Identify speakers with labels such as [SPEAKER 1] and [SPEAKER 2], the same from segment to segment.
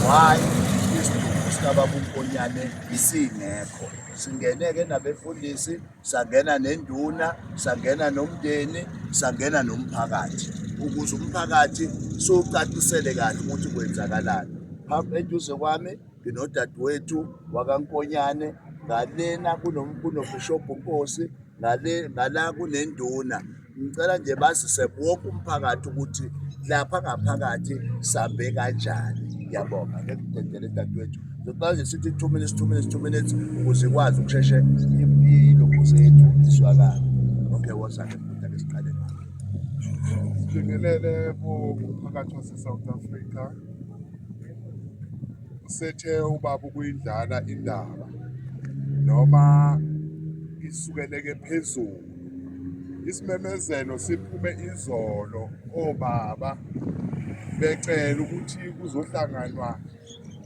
[SPEAKER 1] why isidumbu sikababa unkonyane isingekho singene-ke nabefundisi sangena nenduna sangena nomndeni sangena nomphakathi ukuze umphakathi siwucacisele kahle ukuthi kwenzakalani phambi eduze kwami nginodadewethu wakaNkonyane ngalena kunobishobhu Nkosi ngale ngala kunenduna ngicela nje bazise wonke umphakathi ukuthi lapha ngaphakathi sambe kanjani ngiyabonga ngekudedele dadewethu ngicela nje sithi two minutes two minutes two minutes ukuze ikwazi ukusheshe impilo zethu izwakala okay wozake futhi ake siqale ngakho sibingelele kumphakathi wase-south africa
[SPEAKER 2] sethe ubaba ukuyidlala indaba noma isukeleke phezulu isimemezelo siphume izolo obaba becela ukuthi kuzohlanganwa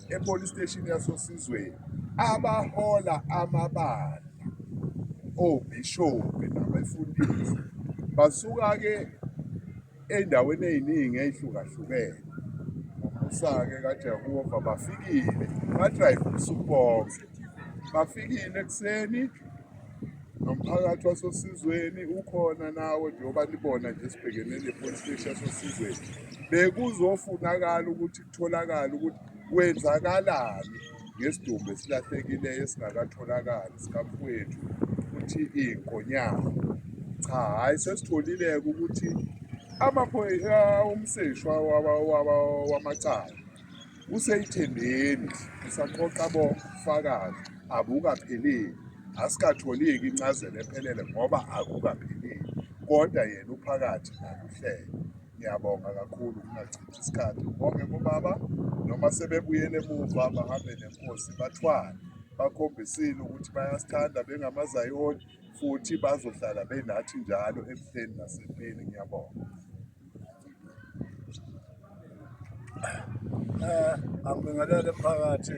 [SPEAKER 2] epolice station yasosizweni abahola amabandla obishophi nabefundisi basuka-ke Ey'ndaweni ey'ningi ey'hlukahlukene ubusa-ke kaJehova bafikile badrayiva ubusuku bonke bafikile ekuseni nomphakathi wasosizweni ukhona nawo njengoba nibona nje sibhekene ne-police station yasosizweni bekuzofunakala ukuthi Tholakala ukuthi kwenzakalani ngesidumbu esilahlekileyo esingakatholakali sikamfowethu ukuthi inkonyana. Cha hhayi sesitholileke ukuthi amaphoyisa umseshwa wamacala useyithembeni usaqoqa bofakazi abukapheleli asikatholiki incazelo ephelele ngoba akukapheleli kodwa yena uphakathi naluhlelo Ngiyabonga kakhulu kungachithi isikhathi ubonge kubaba noma sebebuyele emuva bahambe nenkosi bathwale bakhombisile ukuthi bayasithanda bengamazayoni futhi bazohlala benathi njalo ebuhleni nasempini ngiyabonga um
[SPEAKER 3] angibingelele phakathi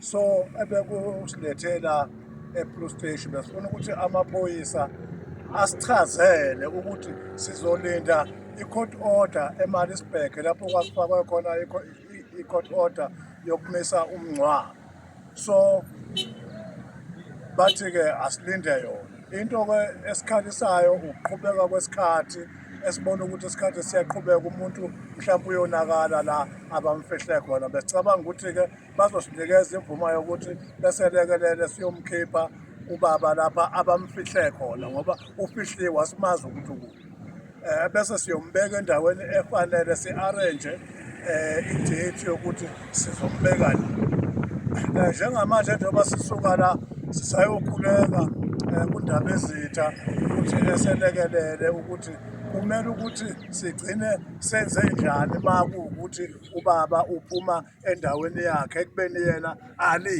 [SPEAKER 3] so ebekusithethela ePlus Station besifuna ukuthi amaphoyisa asichazele ukuthi sizolinda i-court order eMaritzburg lapho kwasifakwe khona i-court order yokumisa umngcwabo so bathi-ke asilinde yona into-ke esikhalisayo ukuqhubeka kwesikhathi esibona ukuthi isikhathi siyaqhubeka umuntu mhlawumbe uyonakala la abamfihle khona besicabanga ukuthi-ke bazosinikeza imvumo yokuthi beselekelele siyomkhipha ubaba lapha abamfihle khona ngoba ufihliwe asimazi ukuthi ukubi um eh, bese siyombeka endaweni efanele si-arrange um idate yokuthi sizombeka eh, njengamanje njengoba sisuka la sisayokhuleka um kundaba ezitha ukuthi eselekelele ukuthi kumele ukuthi sigcine senze njani uma kuwukuthi ubaba uphuma endaweni yakhe ekubeni yena ali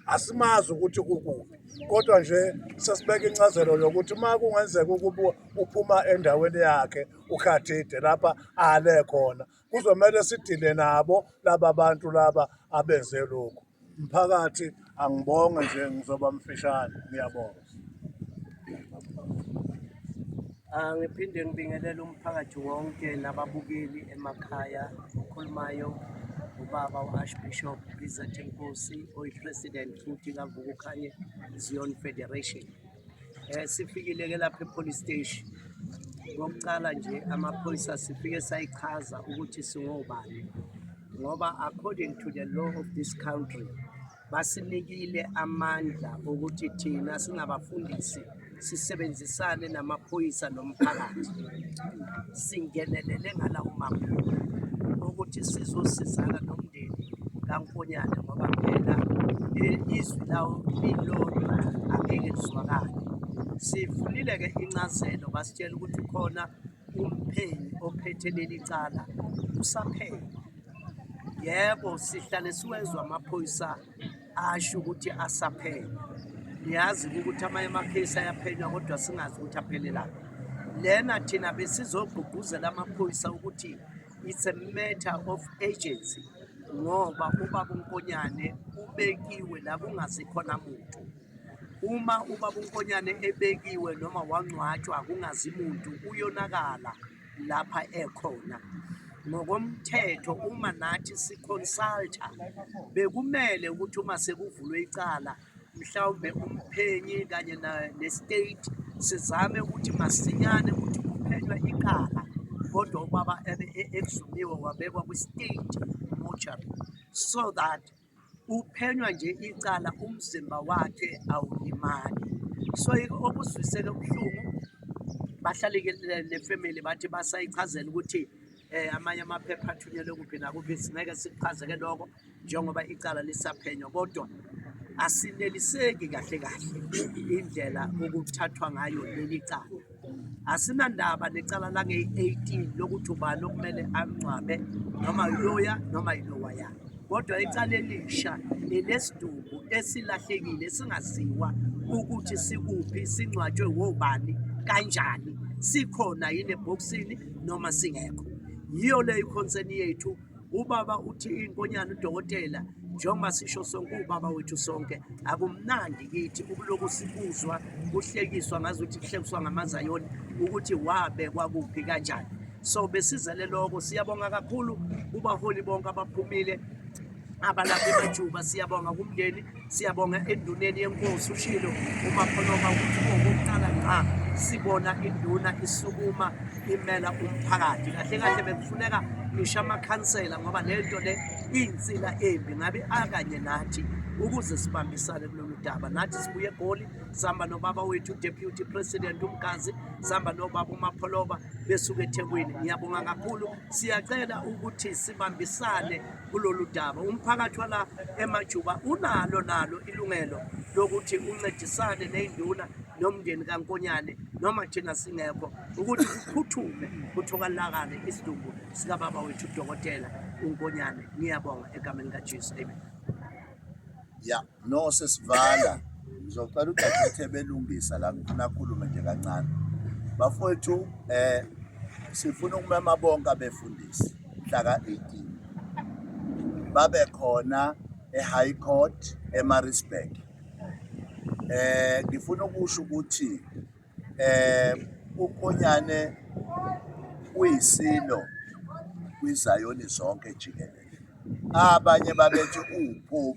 [SPEAKER 3] asimazi ukuthi kukuphi kodwa nje sesibeka incazelo yokuthi uma kungenzeka ukuba uphuma endaweni yakhe ukhathide lapha ale khona kuzomele sidile nabo laba bantu laba abenze lokhu mphakathi Angibonge nje ngizoba mfishane ngiyabonga.
[SPEAKER 4] Ah, ngiphinde ngibingelele umphakathi wonke nababukeli emakhaya okhulumayo ubaba u-archbishop izeth nkosi oyi-president futhi kavukukhanye zion federation Eh sifikile ke lapha epolice station. Ngokuqala nje amaphoyisa sifike sayichaza ukuthi singobani. Ngoba according to the law of this country basinikile amandla ukuthi thina singabafundisi sisebenzisane namaphoyisa nomphakathi singenelele ngalawo maphupho ukuthi sizosizana emdeni kaNkonyane ngoba phela izwi lawo lilodwa angeke lizwakale. Sivulile-ke incazelo basitshela ukuthi ukhona umphenyi ophethe leli cala usaphenya. Yebo sihlale siwezwa amaphoyisa asho ukuthi asaphenya. Niyazi ukuthi amanye amakhesi ayaphenywa kodwa singazi ukuthi aphelelaphi. Lena thina besizogqugquzela amaphoyisa ukuthi it's a matter of agency ngoba ubaba uNkonyane ubekiwe la kungazikhona muntu uma ubaba uNkonyane ebekiwe noma wangcwatshwa kungazi muntu uyonakala lapha ekhona ngokomthetho uma nathi siconsulta bekumele ukuthi uma sekuvulwe icala mhlawumbe umphenyi kanye ne-state sizame ukuthi masinyane ukuthi kuphenywe iqala kodwa ubaba ebe e-, exhumiwe wabekwa kwi-state mortuary so that uphenywa nje icala umzimba wakhe awulimali so okuzwisele ubuhlungu bahlalekelele nefamily bathi basayichazela ukuthi um amanye amaphepha athunyelwe kuphi nakuphi singeke sikuchazeke lokho njengoba icala lisaphenywa kodwa asineliseki kahle kahle indlela okuthathwa ngayo leli cala asinandaba necala langeyi-18 lokuthi ubani okumele angcwabe noma yiloya noma yilowa yakhe kodwa icala elisha elesidumbu esilahlekile singaziwa ukuthi sikuphi singcwatshwe wobani kanjani sikhona yini ebhokisini noma singekho yiyo leyo ikhonseni yethu Ubaba uthi inkonyane udokotela njengoba sisho sonke ubaba wethu sonke akumnandi kithi ukulokhu sikuzwa kuhlekiswa ngazi ukuthi kuhlekiswa ngamazayoni ukuthi wabekwa kuphi kanjani so besizele lokho siyabonga kakhulu kubaholi bonke abaphumile abalapha emajuba siyabonga kumndeni Siyabonga enduneni yenkosi ushilo uMaphonoma ukuthi okokuqala ngqa sibona induna isukuma imela umphakathi kahle kahle bekufuneka ngisho amakhansela ngoba le nto le iyinsila embi ngabe akanye nathi ukuze sibambisane kulolu daba nathi sibuye egoli sihamba nobaba wethu deputy president umgazi sihamba nobaba umapholoba besuke ethekwini ngiyabonga kakhulu siyacela ukuthi sibambisane kulolu daba. Umphakathi wala emajuba unalo nalo ilungelo lokuthi uncedisane ney'nduna nomndeni kankonyane noma thina singekho ukuthi kuphuthume kuthokalakale isidumbu sikababa wethu udokotela unkonyane ngiyabonga egameni kajesu amen ya
[SPEAKER 1] yeah. No sesivala ngizocela udadewethu ebelungisa la ngifuna akhulume nje kancane bafowethu um eh, sifuna ukumema bonke abefundisi mhla ka-18 babe khona e-high court emarisburg um eh, ngifuna ukusho ukuthi Umkhonyane uyisilo kwiZayoni zonke jikelele. Abanye babethi uwuphuphu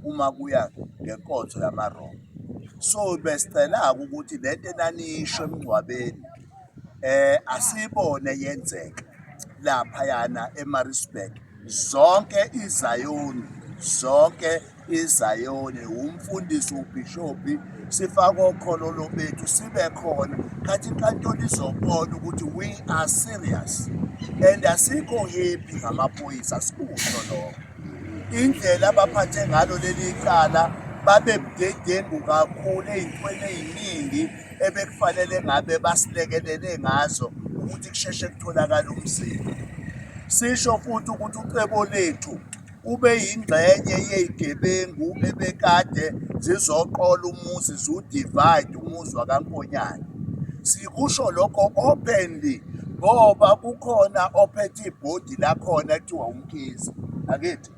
[SPEAKER 1] uma kuya ngenkonzo yamaRoma. So besicela-ke ukuthi le nto enanisho emngcwabeni um asiyibone yenzeka laphayana eMaritzburg zonke iZayoni zonke. iZayoni wumfundisi ubhishobhi sifake okholo lobethu sibe khona khathi inkantolo izobona ukuthi we are serious and asikho happy ngamaphoyisa sikusho lokho indlela abaphathe ngalo leli cala babe budedengu kakhulu ey'ntweni ey'ningi ebekufanele ngabe basilekelele ngazo ukuthi kusheshe kutholakale umzimba sisho futhi ukuthi ucebo lethu Ubeyingxenye yezigebengu ebekade zizoqola umuzi ziwudivide umuzi wakaNkonyane. Sikusho lokho openly ngoba kukhona ophethe ibhodi lakhona kuthiwa uMkhize. Angithi?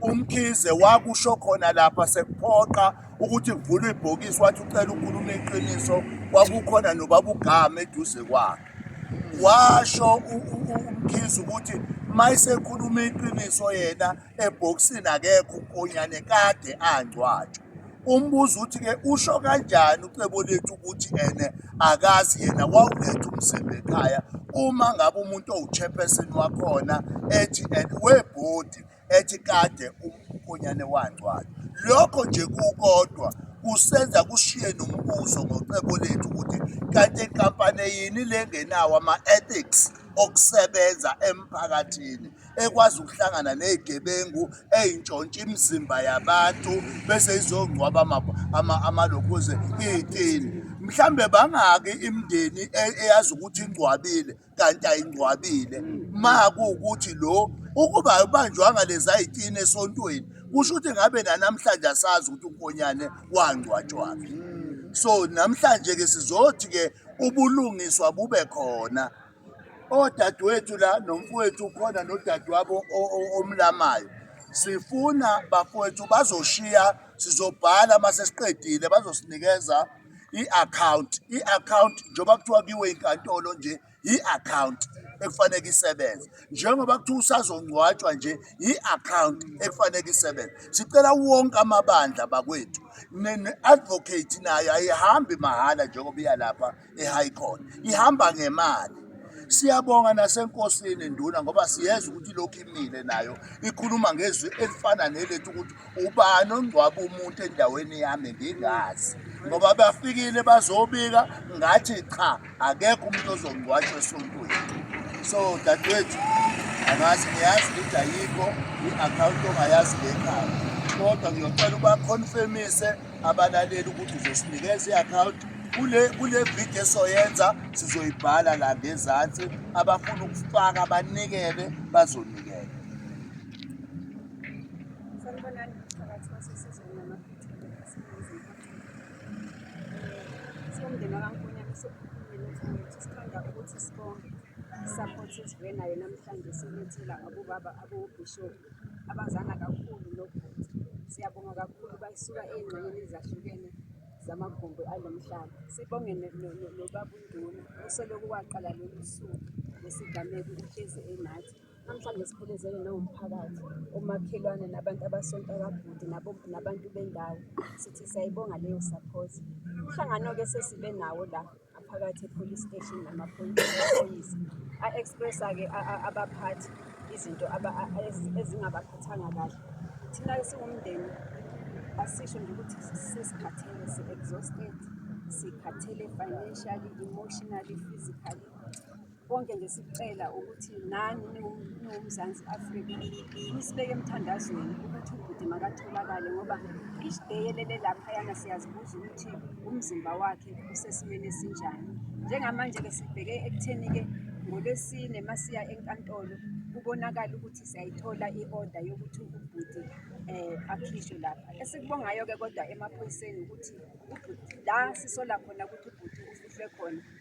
[SPEAKER 1] UMkhize wakusho khona lapha sekuphoqa ukuthi kuvulwe ibhokisi wathi ucela ukhuluma iqiniso kwakukhona nobaba uGama eduze kwakhe. washo umkhizi ukuthi mayisekhuluma iqiniso yena ebhokisini akekho unkonyane kade angcwatshwa umbuzo uthi-ke usho kanjani ucebo lethu ukuthi ene akazi yena wawuletha umzimba ekhaya uma ngabe umuntu owuchairperson wakhona ethi and webhodi ethi kade umkhonyane wangcwala. Lokho nje kukodwa kusenza kushiye nombuzo ngocebo lethu ukuthi kanti inkampani yini le ngenawo ama-ethics okusebenza emphakathini ekwazi ukuhlangana ney'gebengu ey'ntshontsha imizimba yabantu bese izongcwaba amalokhuze iy'tini mhlambe bangaki imndeni e-, eyazi ukuthi ingcwabile kanti ayingcwabile ma kuwukuthi lo ukuba ayibanjwanga lezayitini esontweni kusho ukuthi ngabe nanamhlanje asazi ukuthi unkonyane wangcwatshwaphi so namhlanje-ke sizothi-ke ubulungiswa bube khona odadewethu la nomfowethu ukhona nodadewabo omlamayo sifuna bafowethu bazoshiya sizobhala uma sesiqedile bazosinikeza i-akhawunti i-akhawunti njengoba kuthiwa kiwe inkantolo nje yi-akhawunti ekufaneke isebenze njengoba kuthiwa usazongcwatshwa nje yi-akhawunti ekufaneke isebenze sicela wonke amabandla bakwethu ne-advocate nayo ayihambi mahhala njengoba iya lapha e-high court ihamba ngemali siyabonga nasenkosini nduna ngoba siyeza ukuthi lokhu imile nayo ikhuluma ngezwi elifana nelethu ukuthi ubani ongcwaba umuntu endaweni yami ngingazi ngoba bafikile bazobika ngathi cha akekho umuntu ozongcwatshwa esontweni so dadewethu angazi ngiyazi ukuthi ayikho i-akhawunti ongayazi ngekhaya kodwa ngiyocela ubakhonfemise abalaleli ukuthi uzosinikeza i-akhawunti kule kule video esoyenza sizoyibhala la ngezansi abafuna ukufaka banikele bazonikela
[SPEAKER 5] Sanibonani phakathi kwasesizweni namaphethelo aseNingizimu Afrika. Siwumndeni wakaNkonyane sophumile mfowethu sithanda ukuthi sibonge support esivuye nayo namhlanje silethela abobaba abobishop abazana kakhulu nobhuti. Siyabonga kakhulu bayisuka ey'ngxenyeni ezahlukene zamagumbi alo mhlaba. Sibonge nobabunduna osolokhu waqala lolu suku lesigameko uhlezi enathi. Namhlanje siphelezelwe nangumphakathi, omakhelwane nabantu abasonta kabhuti nabantu bendawo. Sithi siyayibonga leyo support. Umhlangano-ke sesibe nawo la ngaphakathi e-police station namaphoyisa a-expressa-ke abaphathi izinto ezingabaphathanga kahle. Thina siwumndeni asisho nje ukuthi sesikhathele si-exhausted, sikhathele financially, emotionally, physically Konke nje sikucela ukuthi nani niwuMzansi Afrika nisibeke emthandazweni ukuthi ubhuti makatholakale ngoba each day elele laphayana siyazibuza ukuthi umzimba wakhe usesimeni esinjani. Njengamanje-ke sibheke ekutheni-ke ngoLwesine masiya enkantolo kubonakala ukuthi siyayithola i-order yokuthi ubhuti um akhishwe lapha. Esikubongayo-ke kodwa emaphoyiseni ukuthi la sisola khona ukuthi ubhuti ufihlwe khona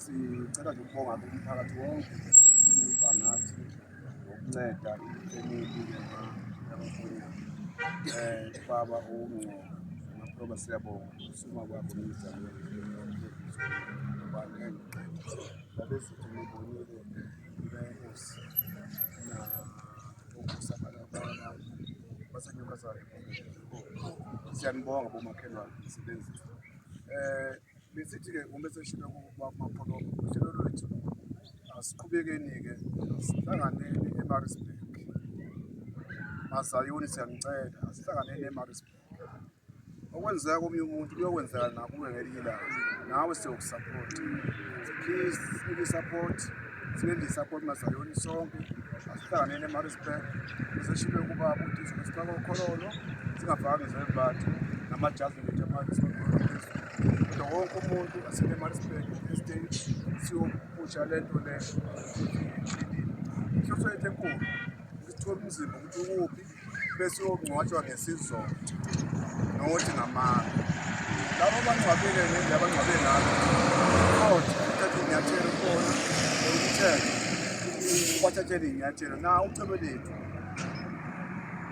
[SPEAKER 2] Sicela nje ukubonga umphakathi wonke uba nathi ngokunceda ifemeli yamakhona um baba owumngcwabo amaphroba siyabonga usuma kwakho nomzamo babesithi ngibonile inkosi na okusabala kwabantu basenyokazane siyanibonga bomakhelwane msebenzi um eh, Besithi-ke uma seshilo kumapholo uhlelo lwethu asiqhubekeni-ke sihlanganeni emarisburg mazayoni siyanicela asihlanganeni emarisburg okwenzeka komunye umuntu kuyokwenzeka nakuwe ngelinye ilanga nawe siyokusaphotha please sinike isupport singenze isupport mazayoni sonke asihlanganeni emarisburg useshibe ukuba ukuthi sizokusihlaka ukhololo singafani zebati namajazi ngethe manje wonke umuntu waseMaritzburg Estate siyopusha le nto le inhloso yethu enkulu ukuthola umzimba ukuthi ukuphi bese uyongcwatshwa ngesizotha nokuthi ngamanga labo abangcwabile ngendlela abangcwabe ngayo kodwa uthathe inyathelo khona ukuthenga bathathele inyathelo na ucebo lethu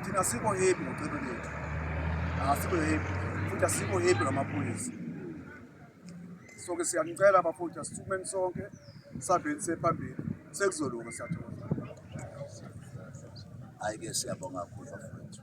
[SPEAKER 2] thina sikho hebi ngocebo lethu Asikho happy. Futhi asikho happy ngamaphoyisa. So ke siyanicela bafowethu asithumeni sonke sabheni sephambili sekuzolunga siyathola.
[SPEAKER 1] Hayi ke siyabonga kakhulu bafowethu.